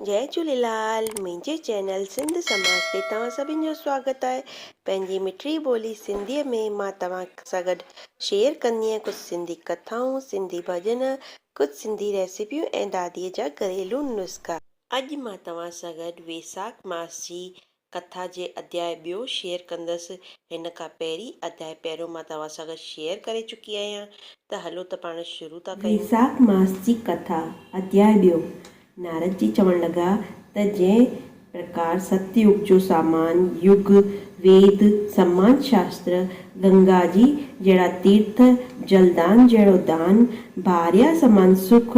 جئي جھوليلال منهنجي چينل سنڌ سماج تي توهان سڀن جو سواگت آهي پنهنجي مٺڙي ٻولي سنڌي ۾ مان توهان سان گڏ شيئر ڪندينء ڪجھ سنڌي ڪٿائون سنڌي ڀڄن ڪجھ سنڌي ريسيپيون ۽ دادي جا گھريلو نسخا. اڄ مان توهان سان گڏ ويساک ماس جي ڪٿا جي اڌياء ٻيو شيئر ڪندس، هن کان پهرين اڌياء پهريون مان توهان سان گڏ شيئر ڪري چڪي آهيان ته هلو ته پاڻ شروع ٿا ڪيون. ويساک ماس جي ڪٿا اڌياء ٻيو. نارد جي چوڻ لڳا ته جنهن پرڪار ست يگ جو سامان، يگ، ويد، سماج شاستر، گنگا جي جهڙا تيرٿ، جلدان جهڙو دان، ڀاريا سمان سک،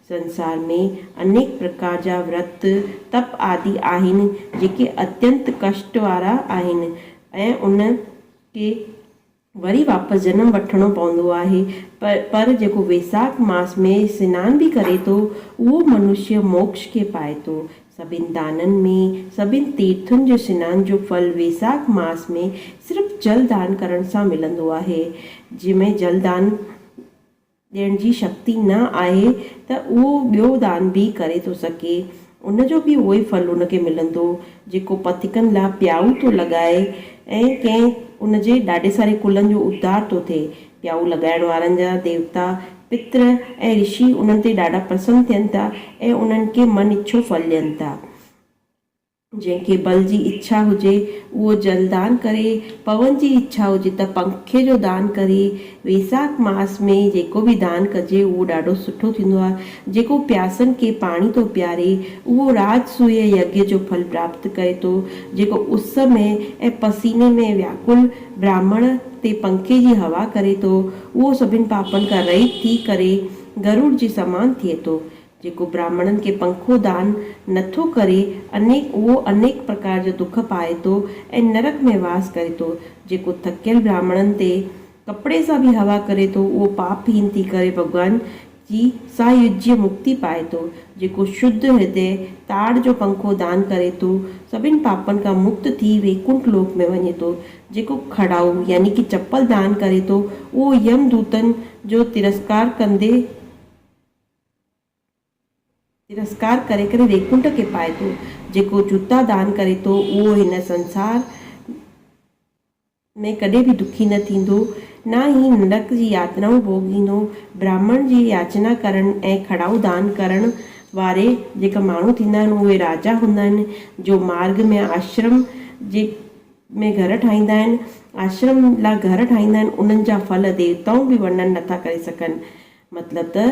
سنسار ۾ انيڪ پرڪار جا ورت، تپ آدي آهن، جيڪي اتينت ڪشٽ وارا آهن ۽ ان کي وري واپس جنم وٺڻو پوندو آهي. پر جيڪو ويساک ماس ۾ سنان به ڪري ٿو، اهو منشيه موڪش کي پائي ٿو. سڀني دانن ۾ سڀني تيرٿن جي سنان جو ڦل ويساک ماس ۾ صرف جل دان ڪرڻ سان ملندو آهي، جنهن ۾ جل دان ڏيڻ جي شڪتي نه آهي ته اهو ٻيو دان به ڪري ٿو سگهي، ان جو به اهوئي ڦل ان کي ملندو، جيڪو پٿيڪن لاء پيائو ٿو لڳائي ۽ ڪنهن ان جي ڏاڍي ساري ڪلن جو اڌار ٿو ٿئي. پيائو لڳائڻ وارن جا ديوتا، پتر ۽ رشي انهن تي ڏاڍا پرسن ٿين ٿا ۽ انهن کي من اڇو ڦل ڏين ٿا. جنهن کي بل جي اڇا هجي اهو جل دان ڪري، پون جي اڇا هجي ته پنکي جو دان ڪري، ويساک ماس ۾ جيڪو به دان ڪجي اهو ڏاڍو سٺو ٿيندو آهي، جيڪو پياسن کي پاڻي ٿو پياري اهو راج سويه يگيا جو ڦل پراپت ڪري ٿو، جيڪو اس ۾ ۽ پسيني ۾ وياڪل براهمڻ تي پنکي جي هوا ڪري ٿو اهو سڀن پاپن کان رهيت ٿي ڪري گروڙ جي سمان ٿئي ٿو، جيڪو براهمڻن کي پنکو دان نه ٿو ڪري، انيڪ اهو انيڪ پرڪار جو دک پائي ٿو ۽ نرڪ ۾ واس ڪري ٿو. جيڪو ٿڪيل براهمڻن تي ڪپڙي سان به هوا ڪري ٿو، اهو پاپ هين ٿي ڪري ڀڳوان جي سايوجيه مڪتي پائي ٿو. جيڪو شڌ هردئ تاڙ جو پنکو دان ڪري ٿو، سڀن پاپن کان مڪت ٿي ويڪنٺ لوڪ ۾ وڃي ٿو. جيڪو کڙائو يعني ڪي چپل دان ڪري ٿو، اهو يم دوتن جو ترسڪار ڪندي، ترسڪار ڪري ڪري ويڪنٺ کي پائي ٿو. جيڪو جوتا دان ڪري ٿو، اهو هن سنسار ۾ ڪڏهن به دکي نه ٿيندو، نه ئي نرڪ جي ياترائون ڀوڳيندو. براهمڻ جي ياچنا ڪرڻ ۽ کڙائون دان ڪرڻ واري جيڪا ماڻهو ٿيندا آهن، اهي راجا هوندا آهن، جو مارڳ ۾ آشرم جي ۾ گهر ٺاهيندا آهن. آشرم لاء گهر ٺاهيندا آهن، انهن جا ڦل ديوتائون به ورنن نٿا ڪري سگهن. مطلب ته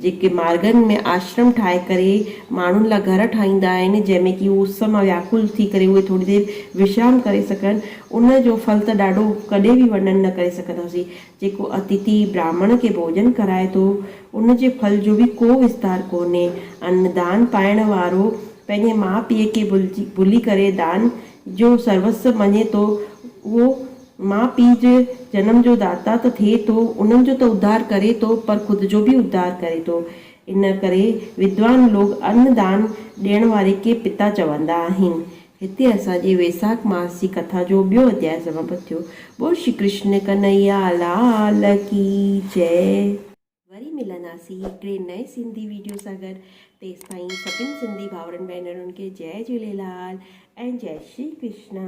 جيڪي مارگن ۾ آشرم ٺاهي ڪري ماڻهن لاء گهر ٺاهيندا آهن، جنهن ۾ ڪي اس مان وياڪل ٿي ڪري اهي ٿوري دير وشرام ڪري سگهن، ان جو ڦل ته ڏاڍو ڪڏهن به ورنن نه ڪري سگهنداسين. جيڪو اٿتي براهمڻ کي ڀوڄن کرائي ٿو، ان جي ڦل جو به ڪو وستار ڪونهي. ان دان پائڻ وارو پنهنجي ماء پيء کي ڀلجي ڀلي ڪري دان جو سروس مڃي ٿو، اهو ماء پيء جي جنم جو داتا ته ٿئي ٿو، انهن جو ته اڌار ڪري ٿو پر خود جو به اڌار ڪري ٿو. ان ڪري ودوان لوگ ان دان ڏيڻ واري کي پتا چوندا آهن. هتي اسان جي ويساک ماس جي ڪٿا جو ٻيو اڌياء سماپت ٿيو. ٻول شري ڪرشن ڪنهيا لال ڪي جئي. وري ملنداسين هڪڙي نئين سنڌي ويڊيو سان گڏ تيستائين سڀني سنڌي ڀائرن ڀينرن کي جئي جهوليلال ۽ جئي شري ڪرشن.